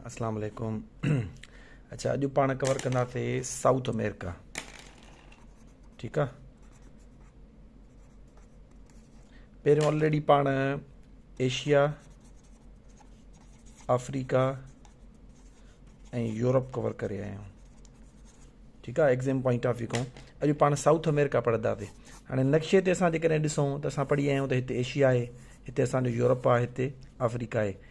اسلام عليڪم اچا اڄ پاڻ ڪور ڪنداسي سائوٿ امريڪا ٺيڪ آ پهريون آلريڊي پاڻ ايشيا آفريڪا ۽ يورپ ڪور ڪري آيا آهيون ٺيڪ آ ايگزام پوائنٽ آف ويو کان اڄ پاڻ سائوٿ امريڪا پڙهنداسي هاڻي نقشي تي اسان جيڪڏهن ڏسون ته اسان پڙهي آيا آهيون ته هتي ايشيا آهي هتي اسانجو يورپ آهي هتي آفريڪا آهي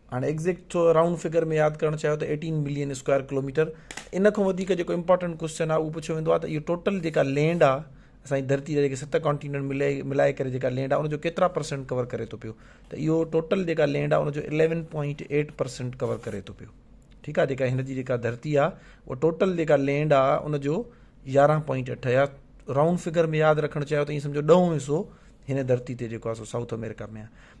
هاڻي ايگزيڪٽ ٿو رائونڊ فگر ۾ ياد ڪرڻ چاهيو ته ايٽين ملين اسڪوائر ڪلوميٽر ان کان وڌيڪ جيڪو امپورٽنٽ ڪوشچن آهي اهو پڇيو ويندو آهي ته اهو ٽوٽل جيڪا لينڊ آهي اسان جي ڌرتي جا جيڪي ست ڪانٽيننٽ ملي ملائي ڪري جيڪا لينڊ آهي ان جو ڪيترا پرسنٽ ڪور ڪري ٿو پيو ته اهو ٽوٽل جيڪا لينڊ آهي ان جو eleven point eight percent cover ڪري ٿو پيو ٺيڪ آهي جيڪا هن جي جيڪا ڌرتي آهي اها ٽوٽل جيڪا لينڊ آهي ان جو يارهن پوائنٽ اٺ يا رائونڊ فگر ۾ ياد رکڻ چاهيو ته ائين سمجھو ڏهون حصو هن ڌرتي تي جيڪو آهي سو سائوٿ آمريڪا ۾ آهي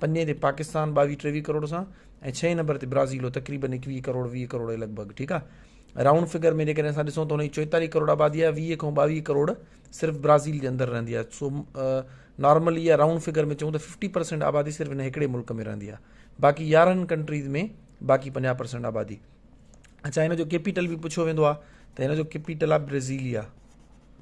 پنجين تي پاڪستان ٻاويهه ٽيويهه ڪروڙ سان ۽ ڇهين نمبر تي برازيل هو تقريبن ايڪويهه ڪروڙ ويهه ڪروڙ جي لڳ ڀڳ ٺيڪ آ رائونڊ فگر ۾ جيڪڏهن اسان ڏسون ته هن جي چوئيتاليهه ڪروڙ آبادي آ ويهه کان ٻاويهه ڪروڙ صرف برازيل جي اندر رهندي آ سو نارمل اها رائونڊ فگر ۾ چون ته ففٽي پرسينٽ آبادي صرف هن هڪڙي ملڪ ۾ رهندي آ باقي يارهن ڪنٽريز ۾ باقي پنجاهه پرسينٽ آبادي اچھا هن جو ڪيپيٽل به پڇيو ويندو آ ته هن جو ڪيپيٽل آ برازيليا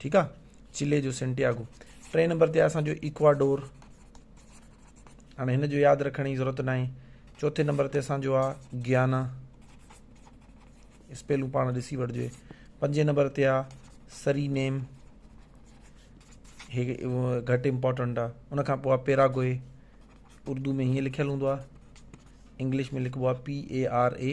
ٺيڪ آ چلي جو سنٽياگو ٽي نمبر تي اسان جو اڪواڊور هاڻي هن جو ياد رکڻ جي ضرورت ناهي چوٿين نمبر تي اسان جو آ گيانا اسپيلو پاڻ ڏسي وٺجي پنجين نمبر تي آ سري نيم هي گهٽ امپورٽنٽ آ ان کان پوء پيراگوئي اردو ۾ هي لکيل هوندو آ انگلش ۾ لکبو آ P E R E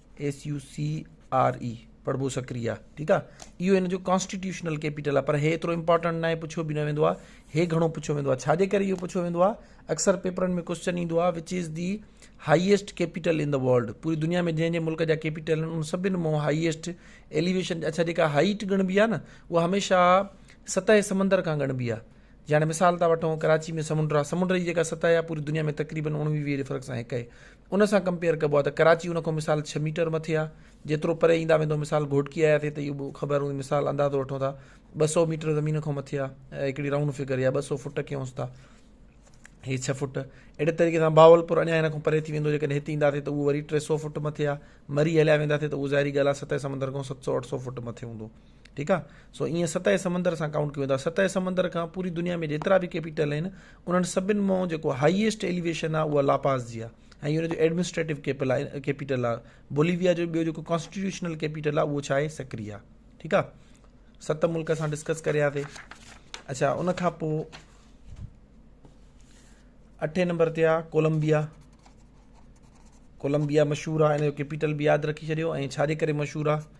S U C R E پڙهبو سڪري آ ٺيڪ آ اهو هن جو ڪانسٽيٽيوشنل ڪيپيٽل آ پر هي ايترو امپورٽنٽ ناهي پڇيو به نه ويندو آ هي گهڻو پڇيو ويندو آ ڇاجي ڪري اهو پڇيو ويندو آ اڪثر پيپرن ۾ ڪوشچن ايندو آ which is the highest capital in the world پوري دنيا ۾ جنهن جنهن ملڪ جا ڪيپيٽل آهن ان سڀني مون هائيسٽ ايليويشن اڇا جيڪا هائيٽ ڳڻبي آ نه اها هميشه سطح سمندر کان ڳڻبي آ جي هاڻي مثال ٿا وٺون ڪراچي ۾ سمنڊ آ سمنڊ جي جيڪا سطح آ پوري دنيا ۾ تقريبن اوڻويهه ويهه ريفرڪس آهن هڪ ان سان ڪمپيئر ڪبو آ ته ڪراچي ان کان مثال ڇهه ميٽر مٿي آ جيترو پري ايندا ويندو مثال گهوٽڪي آياسي ته اهو به خبر هوندي مثال اندازو وٺون ٿا ٻه سؤ ميٽر زمين کان مٿي آ هڪڙي رائونڊ فگر يا ٻه سؤ فوٽ ڪيونس ٿا هي ڇهه فوٽ اهڙي طريقي سان بهاولپور اڃا هن کان پري ٿي ويندو جيڪڏهن هت اينداسي ته اهو وري ٽي سؤ فوٽ مٿي آ مري هليا وينداسي ته اهو ظاهري ڳالهه آ سطح سمندر کان ست سؤ اٺ سؤ فوٽ مٿي هوندو ٺيڪ آ سو ائين ستهه سمندر سان ڪائونٽ ڪيو ويندو آهي ستهه سمندر کان پوري دنيا ۾ جيترا به ڪيپيٽل آهن انهن سڀن مان جيڪو هائيسٽ ايليويشن آهي اها لاپاز جي آهي ۽ ان جو ايڊمنسٽريٽو ڪيپل آهي ڪيپيٽل آهي بوليويا جو ٻيو جيڪو ڪانسٽيٽيوشنل ڪيپيٽل آهي اهو ڇا آهي سڪري آهي ٺيڪ آهي ست ملڪ اسان ڊسڪس ڪريا ٿي اچھا ان کان پوء اٺين نمبر تي آهي ڪولمبيا ڪولمبيا مشهور آهي ان جو ڪيپيٽل به ياد رکي ڇڏيو ۽ ڇا جي ڪري مشهور آهي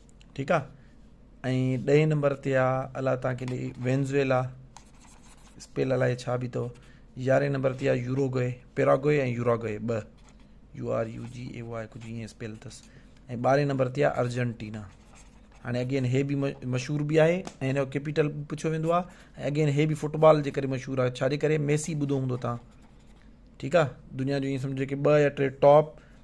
ٺيڪ آ ۽ ڏهين نمبر تي آ الا تان کي لي وينزويلا اسپيل الا ڇا بي تو يارهين نمبر تي آ يوروگوي پيراگوي ۽ يوراگوي ب U R U G A Y ڪجهه ائين اسپيل تس ۽ ٻارهين نمبر تي آ ارجنٽينا هاڻي اگين هي به مشهور به آهي ۽ هن جو ڪيپيٽل به پڇيو ويندو آ ۽ اگين هي به فٽبال جي ڪري مشهور آ ڇا جي ڪري ميسي ٻڌو هوندو تان ٺيڪ آ دنيا جو ائين سمجهو ڪي ٻه يا ٽي ٽاپ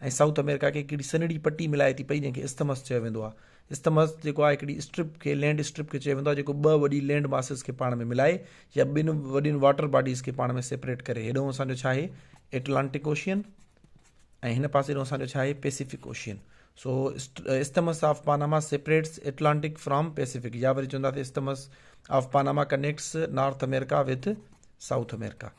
۽ سائوٿ آمريڪا کي هڪڙي سنهڙي پٽي ملائي ٿي پئي جنهن کي اسٿمس چيو ويندو آهي. اسٿمس جيڪو آهي هڪڙي اسٽرپ کي لينڊ اسٽرپ کي چيو ويندو آهي جيڪو ٻه وڏي لينڊ ماسز کي پاڻ ۾ ملائي يا ٻن وڏين واٽر باڊيز کي پاڻ ۾ سيپريٽ ڪري هيڏانهن اسان جو ڇا آهي ايٽلانٽڪ اوشين ۽ هن پاسي ڏانهن اسان جو ڇا آهي Pacific Ocean so isthmus of Panama separates Atlantic from Pacific يا وري چونداسي isthmus of Panama connects North America with South America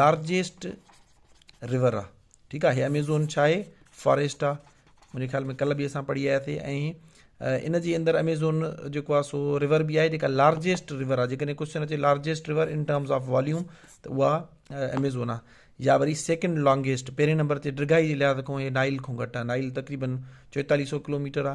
largest river آ ٺيڪ آ ھي اميزون ڇا آھي فاريسٽ آ منھنجي خيال ۾ ڪل به اسان پڙھي آيا سي ۽ ان جي اندر اميزون جيڪو آ سو رور به آھي جيڪا لارجيسٽ رور آ جيڪڏھن ڪوشچن اچي largest river in terms of volume ته اها اميزون آ يا وري سيڪنڊ لانگيسٽ پهرين نمبر تي ڊگھائي جي لحاظ کان هي نائل کان گھٽ آ نائل تقريبن چوئيتاليھ سو ڪلوميٽر آ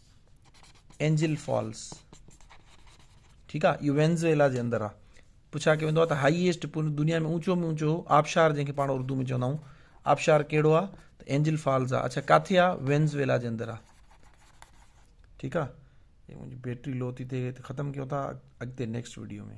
اينجل فالس ٺيڪ آ اهو وينزويلا جي اندر آ پڇا ڪيو ويندو آ ته هائيسٽ پوري دنيا ۾ اونچو ۾ اونچو آبشار جنهن کي پاڻ اردو ۾ چوندا آهيون آبشار کيڙو آ ته اينجل فالس آ اڇا ڪاٿي آ وينزويلا جي اندر آ ٺيڪ آ منهنجي بيٽري لو ٿي ٿئي ته ختم ڪيو ٿا اڳتي نيڪسٽ ويڊيو ۾